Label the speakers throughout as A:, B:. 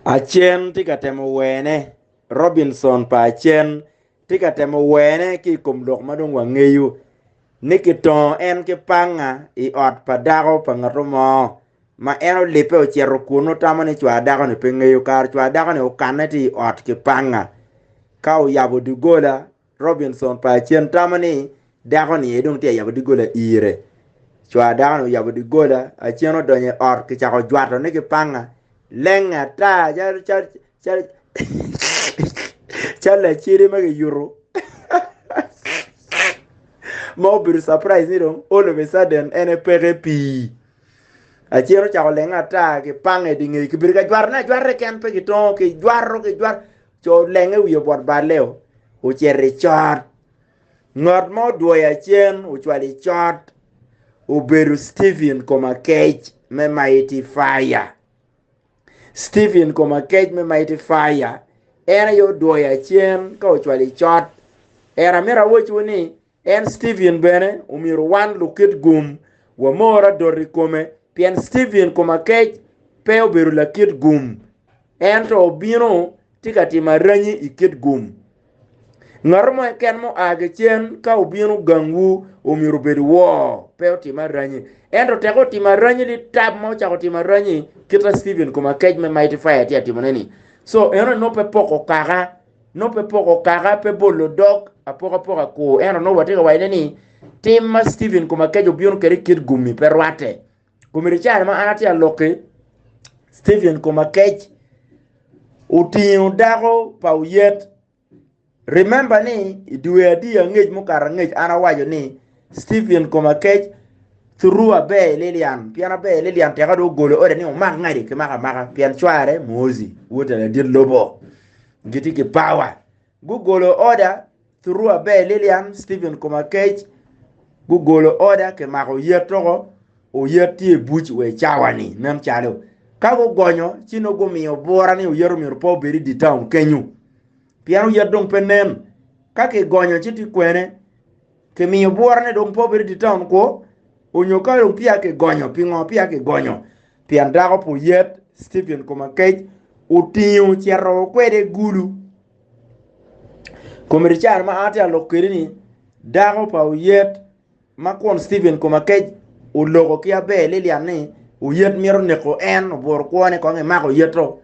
A: Acen tye ka temo wene. Robinson pa Acen tye ka temo wene ki i kom lok ma dong wangeyo ni kitongo en ki panga i ot pa dako pa ngatu mo ma en olibbe ocito kunu otamo ni cwar dako-ni pe ngeyo kara cwar dako-ni okanne tye i ot ki panga ka oyabo doggola Robinson pa Acen tamo ni, Dako-ni aye dong tye ka yabo doggola ire. Cwar dako-ni oyabo doggola, Acen odonyo i ot kicako jwatone ki panga. Lenge ata calo lacede ma kiyuto ma obedo capraij ni dong all of a sudden en aye peke pii. Acen ocako lenge ata kipanga i dye ngeye, kibedo ka jwatone ajwata keken pe kitongo, kijwato kijwato. Co olenge wiye bot balle-o, ocito i cot. Ngat ma odwoyo acen ocwalo i cot obedo Stephen Komakec me Mighty Fire. Stephen Komakec me Mighty Fire en aye odwoyo acen ka ocwalo i cot. Ento amito awocwu ni En Steven bene omyero wan lukit gum wamor adot i kome, pien Steven kom akec pe obedo lakit gum, ento obino tye ka timo aranyi i kit gum. Ngat mo keken mua ki cen ka obino gangwu omyero obed woo, pe otim aranyi. Ento tek otimo aranyi ni tab ma ocako timo aranyi kit ma Steven kom akec me Mighty Fire tye ka timone-ni, so eno nongo pe poko kaka. nongo pe poko kaka, pe bolo dog, apokapoka kur. Ento nongo watye ka wacone ni tim ma Stephen kom akeca obino kwede i kit gum-mi pe rwatte. Komedi i caro-ni ma an atye ka lok-ki, Stephen kom akec otingo dako pa oyet. Remember ni i dwe adi angec mukato angec an awaco ni Stephen koma kec through aber i Lilian pien aber i Lilian teka do ogolo ode ni omak ngadi ki maka maka pien cware Muozi wote ladit lobo giti ki power gugolo order through aber i Lilian Stephen koma kec gugolo order ki mako yet toko oyet tye i buc we cawani nen calo ka gugonyo ci no gumiyo bura ni oyet omyero pe obed i di town kenyu pien oyet dong pe nen ka kigonyo ci ti kwene Kimiyo bwura ni dong pe obed i taun kwo, onyo ka dong peya kigonyo. Pingo peya kigonyo? Pien dako pu yat, Stephen Komakech, otingo cito kwede Gulu. Komiticare ma an tye ka lok kwede ni, dako pa oyet ma kwon Stephen Komakech oloko ki Aber Lilian ni oyet mito neko en, oburo kwone kong emako oyeto.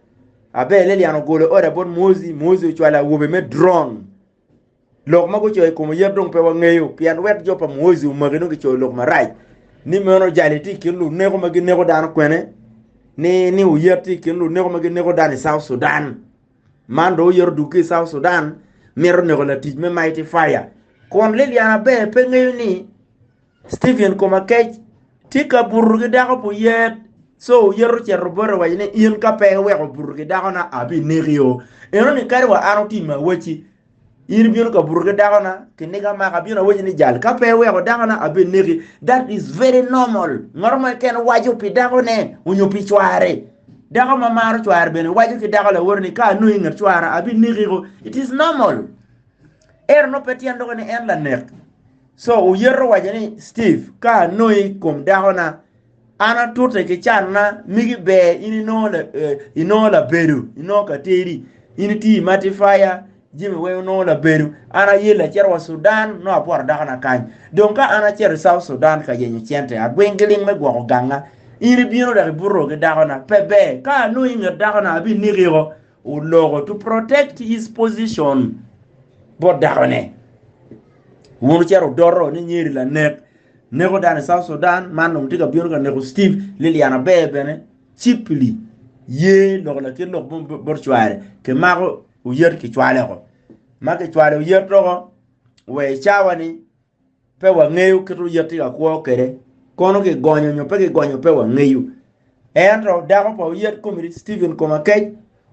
A: Aber Lilian ogolo order bot Muozi, Muozi ocwalo awobe me drone. Lok ma gucoyo i kom oyet dong pe wangeyo, pien lwet jo pa Mwoji omaki dong kicoyo lok marac ni meno jali tye i kin luneko ma gineko dano kwene ni ni oyet tye i kin luneko ma gineko dano i South Sudan. Man dong oyet odug ki i South Sudan mito neko latic me Mighty Fire. Kun Liliana ber pe ngeyo ni Stephen Komakech, tye ka buto ki dako pi oyet, co oyet ocito bote owaco ni, In ka pe iweko obuto ki dakona, abinekio. Enoni kadi wa an otimmi awaci, in ibino ka buto ki dakona, kiniga amaka, abino awaci ni jal, ka pe iweko dakona, abineki. That is very normal. Ngat mo keken waco pi dakone onyo pi cware. Dako ma maro cware bene waco ki dako lawote ni, ka anongi inget cwara, abinekiko. It is normal. Ento nongo pe tyen doko ni en lanek. Co oyeto owaco ni, Steve, ka anongi i kom dakona, an atute ki canna migi ber in inongo labedo, inongo ka tedi, in itiyo i matifaya, jami weng onongo labedo. An aye lacito wa Sudan nongo abworo dakona kany. Dong ka an acito i South Sudan ka yenyo cente, agwing giling me gwoko ganga, in ibino dok ibuto ki dakona, pe ber. Ka anongi i nget dakona, abineki woko. oloko to protect his position bot dakone wun ocito odoto ni nyeri lanek neko dano i South Sudan man dong tye ka bino ka neko Steve Lilian Aber bene cheaply ye loko lakit lok mo bot cware kimako oyet kicwale oko ma kicwalo oyet oko wa i cawa ni Pe wangeyo kit oyet ka kwo kwede, kono kigonyo nyo pe kigonyo pe wangeyo. Ento dako pa oyet komedi Stephen Komakec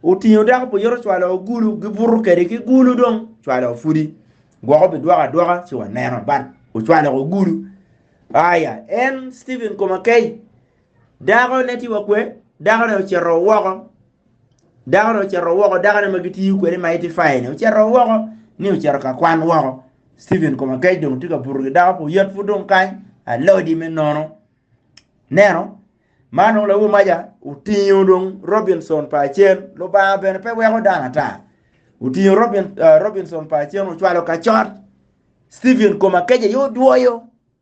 A: otingo dako pa oyet ocwalo ogulu gibuto kwede ki gulu dong cwalo pudi gwoko bidwoko adwoka ci waneno but ocwalo ogulu aya en Stephen Komakec Dakone ti wakwe, dakone ocito woko, dakone ocito woko, dakone ma gitiyo kwede ma itifayeni ocito woko ni ocito ka kwan woko. Steven koma kec dong ti ka buto gi dako pu yat pu dong kany alodi me nono. Neno, man dong lawu maja otingo dong Robinson pa acen, Lubanga bene pe weko dano ata. Otingo Robin, uh, Robinson pa acen ocwalo kacot. Steven koma kec aye odwoyo.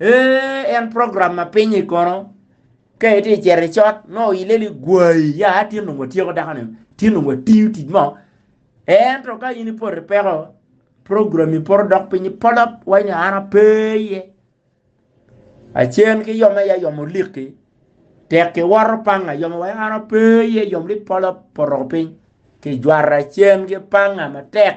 A: Ee, en program ma piny-nyi kono. Ka itye cito i cot, nongo oyille ni gwai, ya tin dong watyeko dako-ni, tin dong watiyo tic mo. Ento ka in ipoto i peko, program-mi poto dok piny polop, waci ni an ape iye. Acen ki yom aye ayom olikki, tek kiwoto panga, yom awaci an ape iye, yom ni polop poto woko piny. Kijwara cen ki panga matek.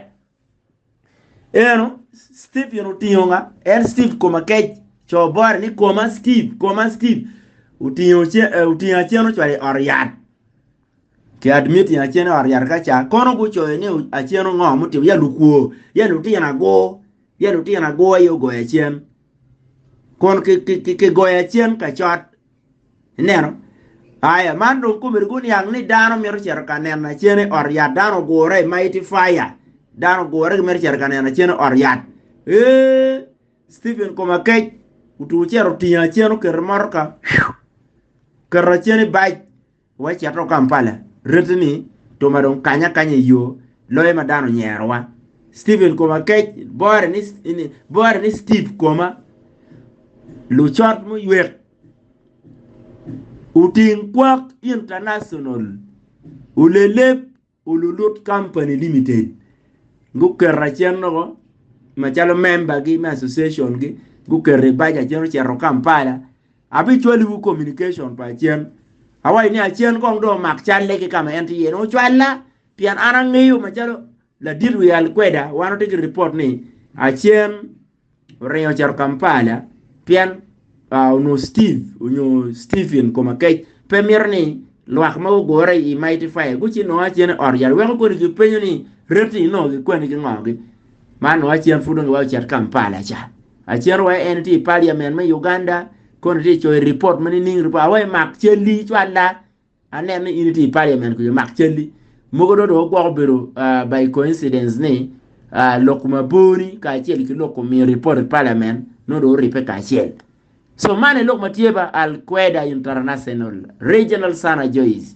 A: Eno, Steve yun otingo nga? En Steve koma kec. Co bore ni koma Steve, koma Steve. Otingo ce, eh, otingo acen ocwalo i ot yat. Ki admit ni acen i ot yat ka ca. Kono gucoyo ni o- acen ongo mutimo ya lukwo, ya lutino ago, ya lutino ago aye ogoyo acen. Kun ki, ki, ki, ki goyo acen kacot. Ineno? Aya, man dong kome rik oniang ni dano mito cito ka neno acene i ot yat. Dano ogure, mighty fire. Dano ogure ki mito cito ka neno acene i ot yat. Ee, Stephen kome akec, otugo cito otingo acen oketo i motoka, oketo acen i bac. Wacito Kampala, rette ni Toma dong kanye akanya i yo loyo ma dano onyerowa. Stephen Koma kec, bore ni Steve Koma, lucot muywek oting kwak international olelep. Olulut Company Limited guketo acen loko macalo member gi me association gi guketo i bac acen ocito Kampala abicwaliwu communication pa acen awaci ni acen kong dong omak calle ki kama en tye iye ni ocwalla pien an angeyo macalo ladit wial kweda wan watye ki report ni acen oringo ocito Kampala pien onongo Steve nyo Stephen Komakech pe mito ni lwak ma gugure i Mighty Fire gucito nongo acen i ot yat weko kodi kipenyo ni reti nongo gikweni ki ngogi man nongo acen pud onongo giwai ocit Kampala ca acen wa en tye i Parliament me Uganda koni tye coyo report ma nining report awa imak calli cwalla Aneno ni in itye i parliament kunyo mak calli mogo do dong gwoko bedo by coincidence ni lok mabor ni kacel ki lok omiyo report i parliament no do oripe kacel so man elok matye ba Al Queda International Regional Sana Joyce